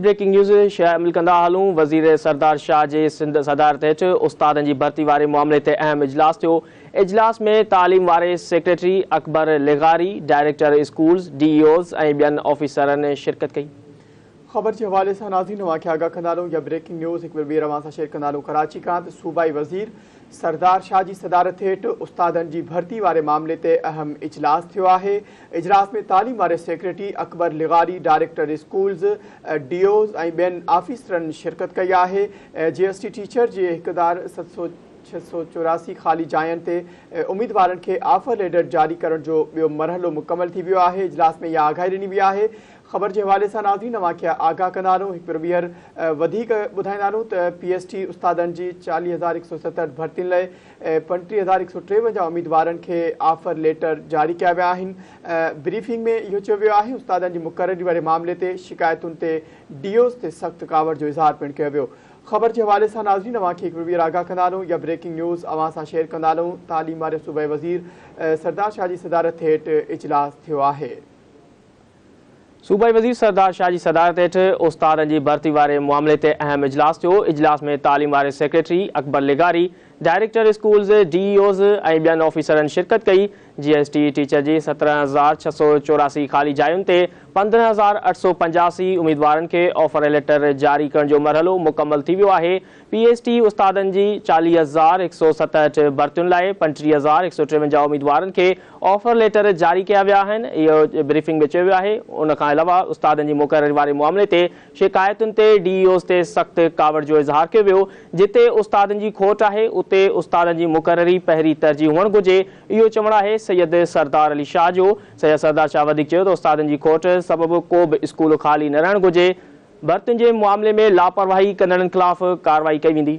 Breaking news شامل ڪندا هلون وزير سردار شاهه جي سنڌ صدارت هيٺ استادن جي ڀرتي واري معاملي تي اهم اجلاس ٿيو اجلاس ۾ تعليم واري سيڪريٽري اڪبر لغاري director schools D E Os ۽ ٻين آفيسرن شرڪت ڪئي. خبر جي حوالي سان ناظرين اوهان کي آگاهه ڪندا هلون يا بريڪنگ نيوز هڪ ڀير ٻيهر اوهان سان شيئر ڪندا هلون ڪراچي کان ته صوبائي وزير سردار شاهه جي صدارت هيٺ استادن جي ڀرتي واري معاملي تي اهم اجلاس ٿيو آهي اجلاس ۾ تعليم واري سيڪريٽري اڪبر لغاري، ڊائريڪٽر اسڪولز، ڊي اوز ۽ ٻين آفيسرن شرڪت ڪئي آهي. جي ايس ٽي ٽيچر جي هڪ هزار ست سؤ ڇهه سؤ چوراسي خالي جاين تي اميدوارن کي آفر ليڊر جاري ڪرڻ جو ٻيو مرحلو مڪمل ٿي ويو آهي، اجلاس ۾ اها آگاهي ڏني وئي آهي. خبر جي حوالي سان ناظرين اوهان کي آگاهه ڪندا رهون هڪ ڀيرو ٻيهر وڌيڪ ٻڌائيندا رهون ته پي ايس ٽي استادن جي چاليهه هزار هڪ سؤ ستهٺ ڀرتين لئه ۽ پنٽيهه هزار هڪ سؤ ٽيونجاهه اميدوارن کي آفر ليٽر جاري ڪيا ويا آهن بريفنگ ۾ اهو چيو ويو آهي استادن جي مقرري واري معاملي تي شڪايتن تي ڊي اوز تي سخت ڪاوڙ جو اظهار پڻ ڪيو ويو خبر جي حوالي سان ناظرين اوهان کي هڪ وير آگاهه ڪندا هلون يا بريڪنگ نيوز اوهان سان شيئر ڪندا هلون تعليم واري صوبائي وزير سردار شاهه جي صدارت هيٺ اجلاس ٿيو آهي صوبائي وزير سردار شاهه جي صدارت هيٺ استادن جي ڀرتي واري معاملي تي اهم اجلاس ٿيو، اجلاس ۾ تعليم واري سيڪريٽري اڪبر لغاري، director schools, D E Os ۽ ٻين آفيسرن شرڪت ڪئي، جي ايس ٽي ٽيچر جي سترهن هزار ڇهه سؤ چوراسي خالي جاين تي پندرهن هزار اٺ سؤ پنجاسي اميدوارن کي آفرليٽر جاري ڪرڻ جو مرحلو مڪمل ٿي ويو آهي، پي ايڇ ڊي استادن جي چاليهه هزار هڪ سؤ ستهٺ ڀرتين لاء پنجٽيهه هزار هڪ سؤ ٽيونجاهه اميدوارن کي آفر ليٽر جاري ڪيا ويا آهن، اهو بريفنگ ۾ چيو ويو آهي. ان کان علاوه استادن جي مقرري واري معاملي تي شڪايتن تي ڊي اي اوز تي سخت ڪاوڙ جو اظهار ڪيو ويو، جتي استادن جي کوٽ آهي اتي استادن جي مقرري پهرين ترجيح هئڻ گهرجي، اهو چوڻ آهي سيد سردار علي شاهه جو. سيد سردار شاهه وڌيڪ چيو ته استادن جي کوٽ سبب ڪو به اسڪول خالي نه رهڻ گهرجي، ڀرتين جي معاملي ۾ لاپرواهي ڪندڙن خلاف ڪارروائي ڪئي ويندي.